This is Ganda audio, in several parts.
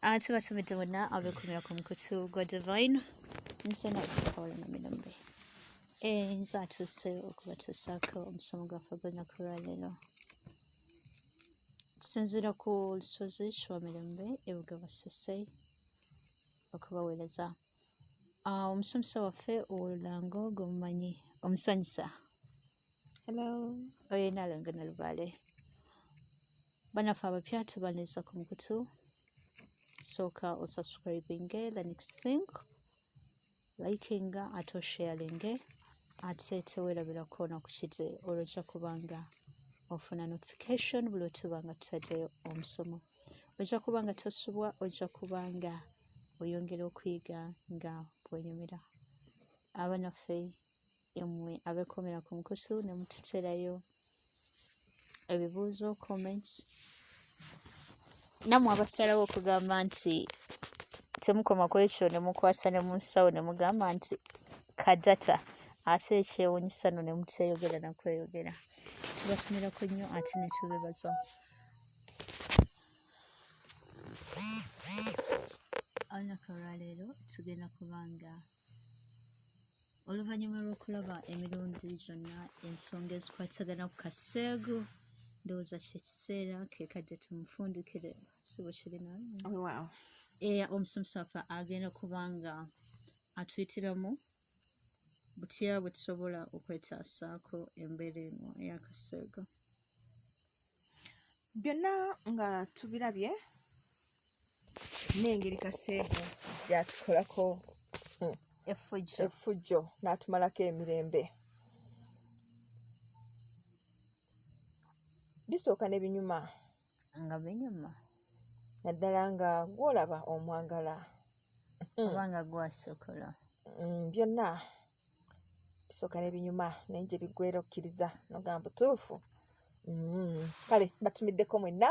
Ah, ate batumidde bonna abeekumira ku mukutu gwa divine nze nakukola na mirembe eh, nze atuuse okubatuusaako omusomo gwaffe gwenaku lwaleero tusinziira ku lusozi kiwa mirembe ebuga basese okubaweereza ah, omusomesa waffe olulango gwemumanyi omusanyusa Hello. Oyo nalonga na lubale. Bana fa abapya tubaneza ku mukutu. Soka o subscribing the next thing. Liking ato sharing ate tewerabira kuona ku kiti olwokya kubanga ofuna notification buli otubanga tutateyo omusomo. Ojja kuba nga tosubwa, ojja kuba nga oyongera okuyiga nga bwenyumira. Abanaffe emwe abekomera ku nkutu ne mututerayo ebibuuzo comments namwe abasalawo okugamba nti temukoma ku ekyo ne mukwasa ne munsawo ne mugamba nti kadata ate ekyewunyisa no ne muteyogera na kweyogera tubatumirako nnyo ate ne tubebaza olunaku olwaleero tugenda kubanga oluvannyuma lw'okulaba emirundi gyonna ensonga ezikwatagana ku kaseegu ndowooza kyekiseera kekadde tumufundikire sibo kirina oh, era omusomesa waffe agenda kuba nga atuyitiramu butya bwe tusobola okwetaasaako embeera eno eyakaseego byonna nga tubirabye n'engeri kaseego gyatukolako hmm. effujjo n'atumalako emirembe bisooka ne binyuma nga binyuma naddala nga gwolaba omwagala oba nga gwasokola mm, byonna bisooka ne binyuma naye gye biggwera okkiriza nogamba butuufu mm, kale batumiddeko mwenna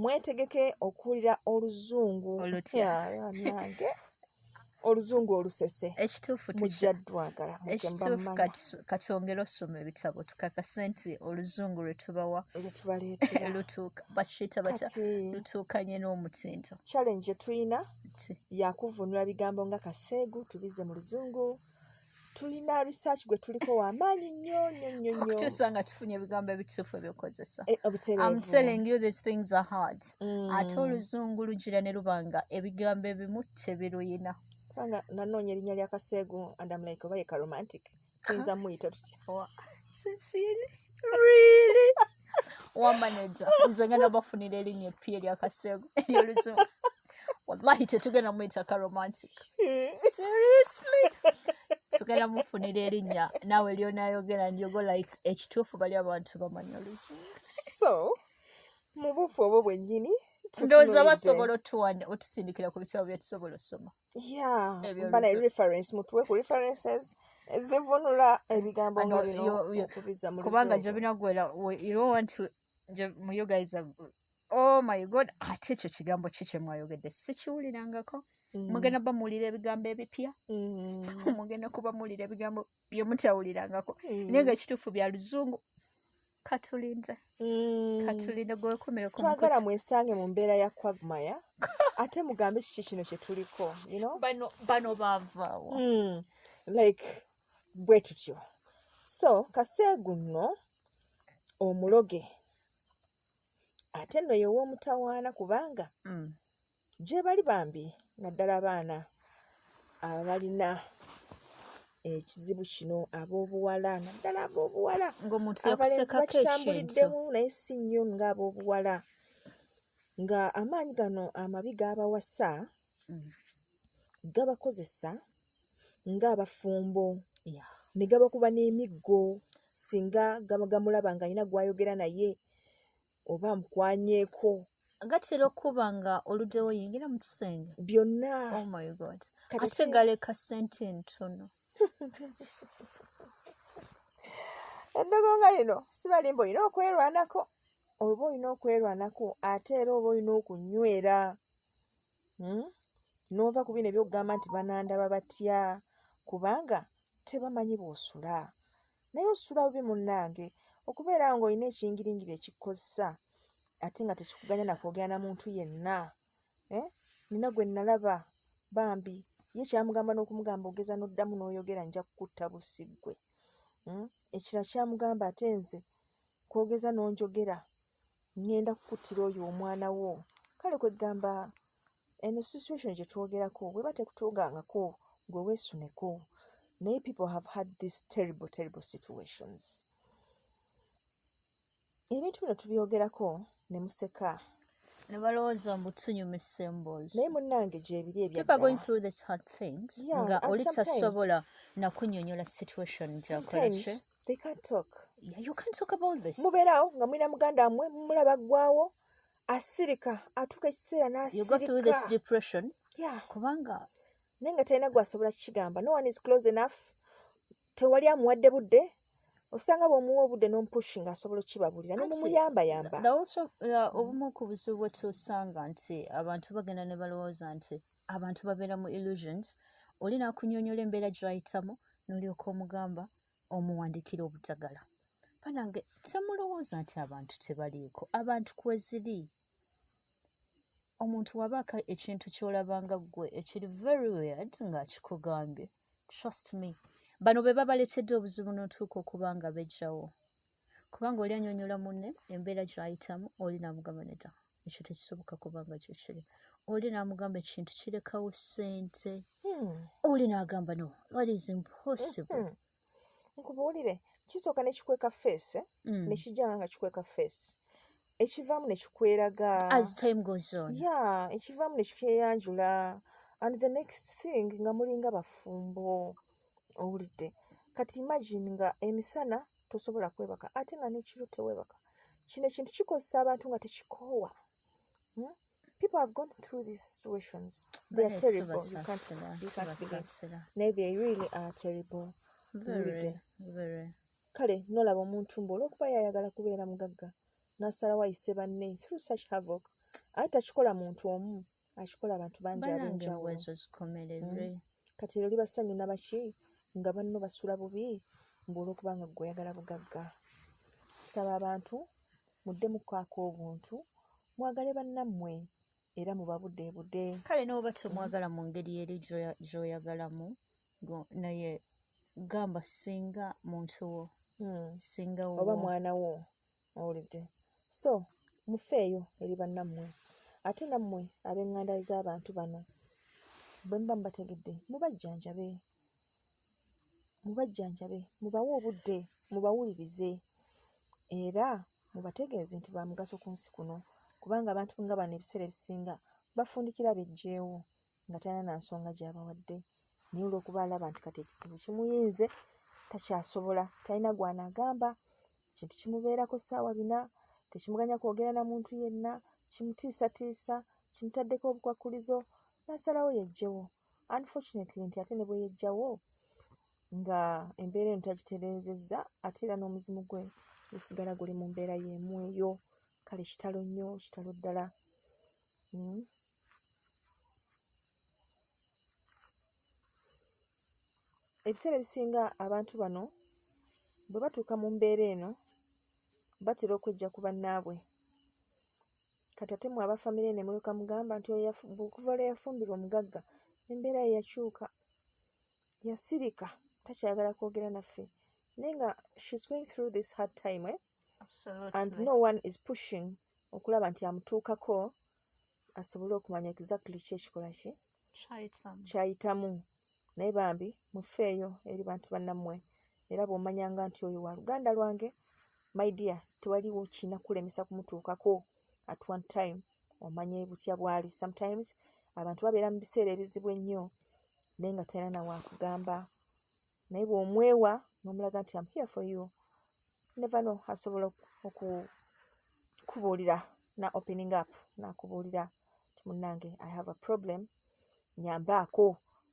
mwetegeke okuwulira oluzungu nange oluzungu olusese ekituufu mujja ddwagala ekituufu katwongere osoma ebitabo tukakase nti oluzungu lwetubawa lutuuka bakiyita bata lutuukanye n'omutindo challenge gyetulina yakuvunula bigambo nga kaseegu tubize mu luzungu tulina research gwe tuliko wamaanyi nnyo nnyo nnyo nnyo okutuusa nga tufunye ebigambo ebituufu ebyokozesa eh, I'm telling you these things are hard mm. ate oluzungu lugira ne luba nga ebigambo ebimu tebiruyina kubanga nanoonya erinnya lya kaseegu and am like oba yeka romantic tuyinza muyita tutya oh, really wamaneja nze ngenda bafunira erinnya eppi eryakasego eryoluzungu wallahi tetugenda muyita ka romantic seriously tugenda mufunira erinnya naawe lyonayogera ndyogo like ekituufu bali abantu bamanya oluzungu so mu bufu obwo bwennyini ndowooza basobola otuwa otusindikira ku bitabo byetusobola osoma ebyo reference mutuwe ku references zivunula ebigambo nga bino okubizza mu kubanga gyobina gwera you don't want to mu you guys are, oh my god ate ekyo kigambo ki kye mwayogedde sikiwulirangako mm. mugenda ba muwulira ebigambo ebipya mm. mugenda kuba muwulira ebigambo bye mutawulirangako mm. naye nga kituufu bya luzungu katulinde katulinde gwewekumire twagala mwesange mu mbeera ya kwagmaya ate mugambe kiki kino kye tuliko bano bavaawo like bwe tutyo so kaseegu nno omuloge ate nno ye w'omutawaana kubanga mm. gye bali bambi naddala abaana abalina ekizibu kino ab'obuwala naddala ab'obuwala abalenzi bakitambuliddemu naye si nnyo nga ab'obuwala nga amaanyi gano amabi g'abawasa mm. gabakozesa ng'abafumbo ne gabakuba n'emiggo singa gaba gamulaba ng'alina gw'ayogera naye oba amukwanyeeko gatera okuba nga oluddewo yingira mu kisenge byonna oh my god ate galeka ssente entono eddogo nga lino sibalimba olina okwerwanako oba olina okwerwanako ate era oba olina okunywera hmm? n'ova ku bino ebyokugamba nti banandaba batya kubanga tebamanyi bw'osula naye osula bubi munnange okubeera ng'olina ekingiringiri ekikukozesa ate nga tekikuganya nakwogera na muntu yenna eh? nina gwe nalaba bambi ye kyamugamba n'okumugamba ogeza n'oddamu n'oyogera nja kukutta busiggwe hmm? ekira kyamugamba ate nze kwogeza n'onjogera ŋŋenda kukuttira oyo omwana wo kale kwegamba eno situation gyetwogerako bweba tekutugangako gwe wesuneko naye people have had this terrible terrible situations ebintu bino tubyogerako ne museka nebalowooza mbu tunyumisa emboozi naye munange gyebiri ebyagointhroughthishard things nga oli tasobola nakunyonyola situation gyakolaki they can't talk yeah, you can't talk about this mubeerawo nga mulina muganda wamwe mumulaba aggwawo asirika atuuka ekiseera nasirikadepression yeah. kubanga naye nga talina gwasobola kukigamba no one is close enough tewali amuwadde budde osanga bwomuwa obudde nomupushi nga asobola okukibabulira nomumuyambayamba uh, obumu ku buzibu bwetusanga nti abantu bagenda ne balowooza nti abantu babeera mu illusions oli nakunyonyola embeera gyayitamu nolyoka omugamba omuwandikira obutagala banange temulowooza nti abantu tebaliiko abantu kweziri omuntu wabaako ekintu kyolabanga ggwe ekiri very weird ng'akikugambye trust me bano be babaletedde obuzibu n'otuuka okuba nga bejjawo kubanga oli anyonyola munne embeera gy'ayitamu oli namugamba nedda ekyo tekisoboka kubanga kyo kiri oli namugamba ekintu kirekawo sente hmm. oli nagamba no what is impossible hmm. nkubuulire kisooka nekikweka face eh? hmm. nekijanga nga kikweka face ekivaamu nekikweraga as time goes on ya ekivaamu nekikyeyanjula and the next thing nga mulinga bafumbo owulidde kati imagine nga emisana tosobola kwebaka ate nga nekiro tewebaka kino ekintu kikozesa abantu nga tekikoowa Hmm? People have gone through these situations. They are terrible. You can't, you can't believe. Nay, they really are terrible. Very, very. kale nolaba omuntu mbu olwokuba yayagala kubeera mugagga nasalawo ayise banne through such havoc aye takikola muntu omu akikola abantu bangi abenjawulo hmm. kati ero libasanyu nabaki nga banno basula bubi mbu olwokuba nga gwe oyagala bugagga saba abantu muddemu kukaako obuntu mwagale bannammwe era mubabudeebude kale n'oba temwagala mu ngeri eri gy'oyagalamu naye gamba singa muntu wo hmm. singa oba mwana wo owulidde so mufeeyo eri bannammwe ate nammwe ab'eŋŋanda z'abantu bano bwe muba mubategedde mubajjanjabe mubajjanjabe mubawe obudde mubawulirize era mubategeeze nti ba mugaso ku nsi kuno kubanga abantu nga bano ebiseera ebisinga bafundikira bejjeewo nga talina na nsonga gyabawadde naye olwokuba alaba nti kati ekizibu kimuyinze takyasobola talina gwanagamba kintu kimubeerako saawa bina tekimuganya kwogera na muntu yenna kimutiisatiisa kimutaddeko obukwakkulizo n'asalawo yejjewo unfortunately nti ate ne bwe yejjawo nga embeera eno tagitereezezza ate era n'omuzimu gwe gusigala guli mu mbeera y'emu eyo kale kitalo nnyo kitalo ddala hmm? ebiseera ebisinga abantu bano bwe batuuka mu mbeera eno batera okwejja ku bannaabwe kati ate mwe abafamire ne mulyoka mugamba nti okuva lwe yafumbirwa omugagga embeera ye yakyuka yasirika takyayagala kwogera naffe naye nga shes going through this hard time eh? and no one is pushing okulaba nti amutuukako asobole okumanya exactly ki ekikola ki kyayitamu naye bambi mufeeyo eri bantu bannammwe era bw'omanyanga nti oyo wa luganda lwange my dear tewaliwo kirina kukulemesa kumutuukako at one time omanye butya bwali sometimes abantu babeera mu biseera ebizibu ennyo naye nga talina na waakugamba naye bw'omwewa n'omulaga nti am here for you never know asobola okukubuulira na opening up nakubuulira ti munnange i have a problem nyambaako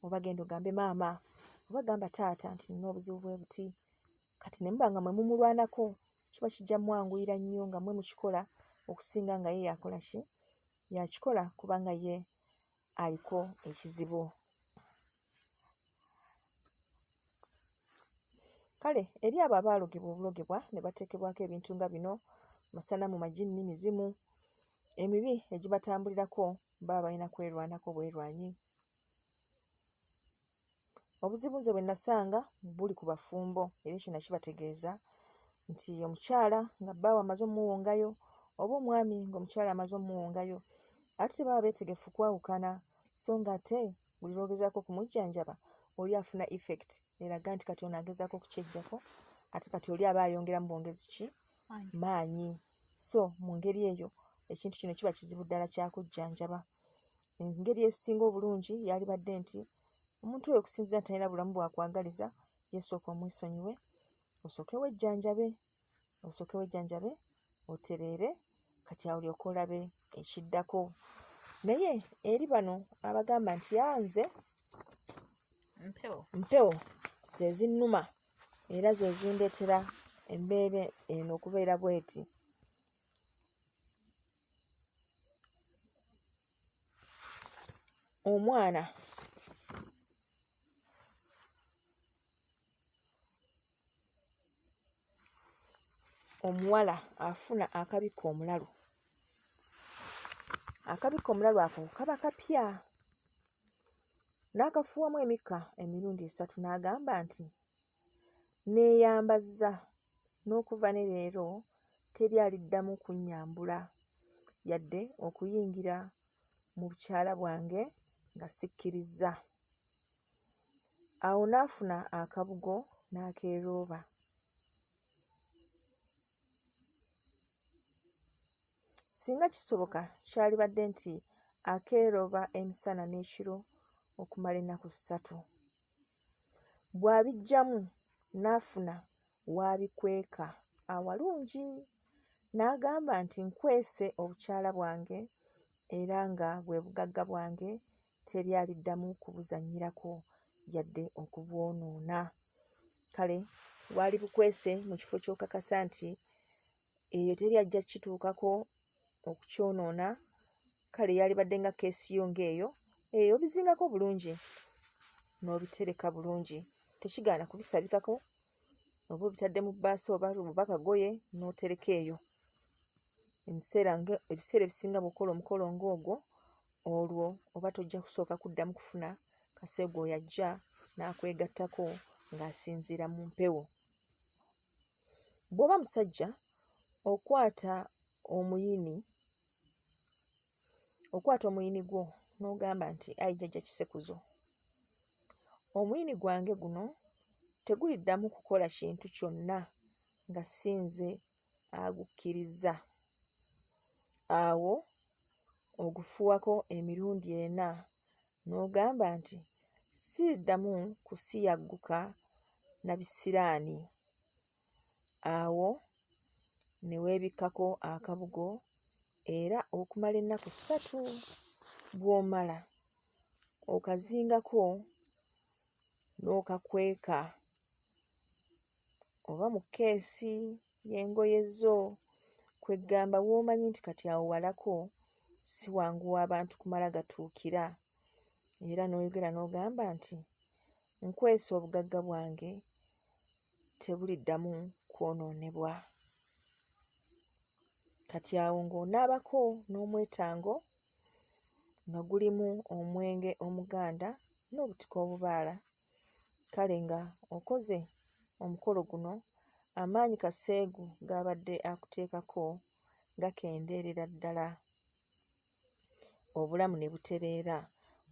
oba genda ogambe maama oba gamba taata nti nina obuzibu bwe buti kati ne muba nga mwe mumulwanako kiba kijja mwanguyira nnyo nga mwe mukikola okusinga nga ye yakola ki yakikola kubanga ye aliko ekizibu kale eri abo abaalogebwa obulogebwa ne bateekebwako ebintu nga bino masanamu majinni mizimu emibi egibatambulirako baba balina kwerwanako bwerwanyi obuzibu nze bwe nasanga buli ku bafumbo era ekyo nakibategeeza nti omukyala nga bbaawe amaze omuwongayo oba omwami ng'omukyala amaze omuwongayo ate tebaba beetegefu kwawukana so nga ate buli lwogezaako okumujjanjaba oli afuna effect eraga nti kati ono agezaako okukyejjako ate kati oli aba ayongera mu bwongezi ki maanyi so mu ngeri eyo ekintu kino kiba kizibu ddala kyakujjanjaba engeri esinga obulungi yalibadde nti omuntu oyo okusinzira nti alina bulamu bwakwagaliza yesooka omwesonyiwe osooke wejjanjabe osooke wejjanjabe otereere kati awo lyoka olabe ekiddako naye eri bano abagamba nti anze mpewo zezinnuma era zezindeetera embeera eno okubeera bweti omwana omuwala afuna akabikka omulalu akabikka omulalu ako kaba kapya n'akafuuwamu emikka emirundi esatu n'agamba nti Nneeyambazza n'okuva ne leero teri aliddamu kunnyambula yadde okuyingira mu bukyala bwange nga sikkirizza. Awo n'afuna akabugo n'akeerooba. Singa kisoboka kyalibadde nti akeerooba emisana n'ekiro okumala ennaku ssatu. bw'abiggyamu n'afuna w'abikweka awalungi n'agamba nti nkwese obukyala bwange era nga bwe bugagga bwange teri aliddamu kubuzannyirako yadde okubwonoona kale waali bukwese mu kifo ky'okakasa nti eyo teri ajja kukituukako okukyonoona kale yalibadde nga keesi yo ng'eyo eyo bizingako bulungi n'obitereka bulungi tekigaana kubisabikako oba obitadde mu bbaasi oba oba kagoye n'otereka eyo ebiseera nga ebiseera ebisinga bwokola omukolo ng'ogwo olwo oba tojja kusooka kuddamu kufuna kase gwoyo ajja n'akwegattako ng'asinziira mu mpewo bw'oba musajja okwata omuyini okwata omuyini gwo n'ogamba nti ayi jjajja kisekuzo omuyini gwange guno teguliddamu kukola kintu kyonna nga si nze agukkirizza awo ogufuwako emirundi ena n'ogamba nti siriddamu kusiyagguka na bisiraani awo ne weebikkako akabugo era okumala ennaku ssatu bw'omala okazingako n'okakweka oba mu keesi y'engoye zo kweggamba w'omanyi nti kati awo walako si wangu w'abantu kumala gatuukira era n'oyogera n'ogamba nti nkwese obugagga bwange tebuliddamu kwonoonebwa kati awo ng'onaabako n'omwetango nga gulimu omwenge omuganda n'obutika obubaala kale nga okoze omukolo guno amaanyi kaseegu g'abadde akuteekako gakendeerera ddala obulamu ne butereera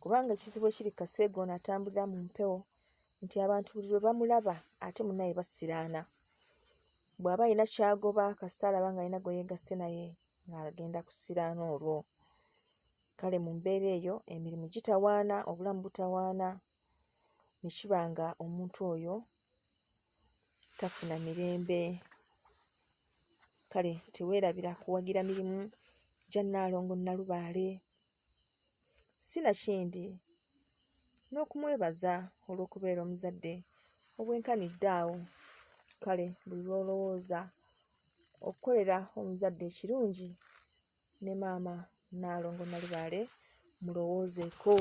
kubanga ekizibu ekiri kaseega ono atambulira mu mpewo nti abantu buli lwe bamulaba ate munaye basiraana bw'aba alina kyagoba kasita alaba nga alina gwe yeegasse naye ng'agenda kusiraana olwo kale mu mbeera eyo emirimu gitawaana obulamu butawaana ne kiba nga omuntu oyo tafuna mirembe kale teweerabira kuwagira mirimu gya nnaalongo nnalubaale si nakindi n'okumwebaza olw'okubeera omuzadde obwenkanidde awo kale buli lw'olowooza okukolera omuzadde ekirungi ne maama nnaalongo nnalubaale mulowoozeeko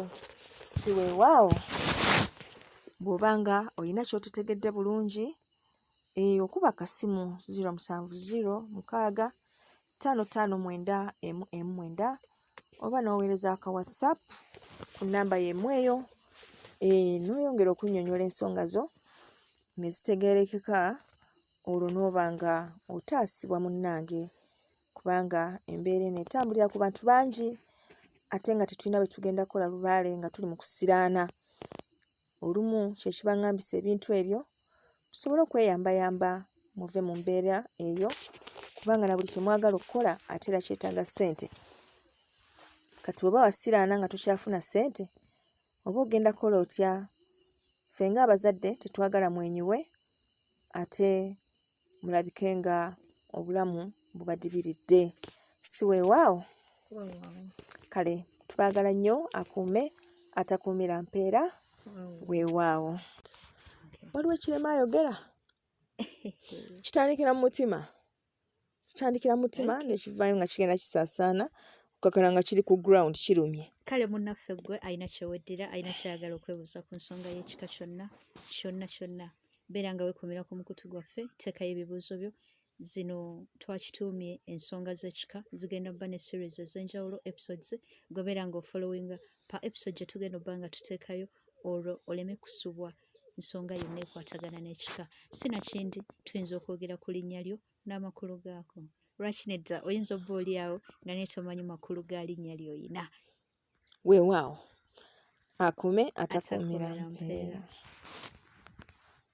si weewaawo bw'oba nga olina ky'otetegedde bulungi eh, okuba akasimu 07065594M9 oba n'oweereza aka whatsapp ku nnamba y'emu eyo eh, n'oyongera okunnyonnyola ensonga zo ne zitegeerekeka olwo n'oba nga otaasibwa munnange kubanga embeera eno etambulira ku bantu bangi ate nga tetulina bwe tugenda kukola lubaale nga tuli mu kusiraana olumu kye kibangambisa ebintu ebyo musobole okweyambayamba muve mu mbeera eyo kubanga na buli kye mwagala okukola ate era kyetaaga ssente kati bweba wasiraana nga tokyafuna ssente oba ogenda kukola otya ffe nga abazadde tetwagala mwenyiwe ate mulabike nga obulamu bubadibiridde siweewaawo kale tubaagala nnyo akuume atakuumira mpeera weewaawo waliwo ekirema ayogera kitandikira mu mutima kitandikira mu mutima nekivaayo nga kigenda kisaasaana okukakana nga kiri ku ground kirumye kale munnaffe ggwe alina kyeweddira alina kyayagala okwebuuza ku nsonga y'ekika kyonna kyonna kyonna beera nga wekomera ku mukutu gwaffe teekayo ebibuuzo byo zino twakituumye ensonga z'ekika zigenda kuba ne series ez'enjawulo episodes gwebeera nga ofollowinga pa episode gye tugenda obba nga tuteekayo olwo oleme kusubwa nsonga yonna ekwatagana n'ekika sinakindi tuyinza okwogera ku linnya lyo n'amakulu gaako lwaki nedda oyinza obba oli awo nga naye tomanyi makulu ga linnya lyoyina Weewaawo akume atakuumira mpeera.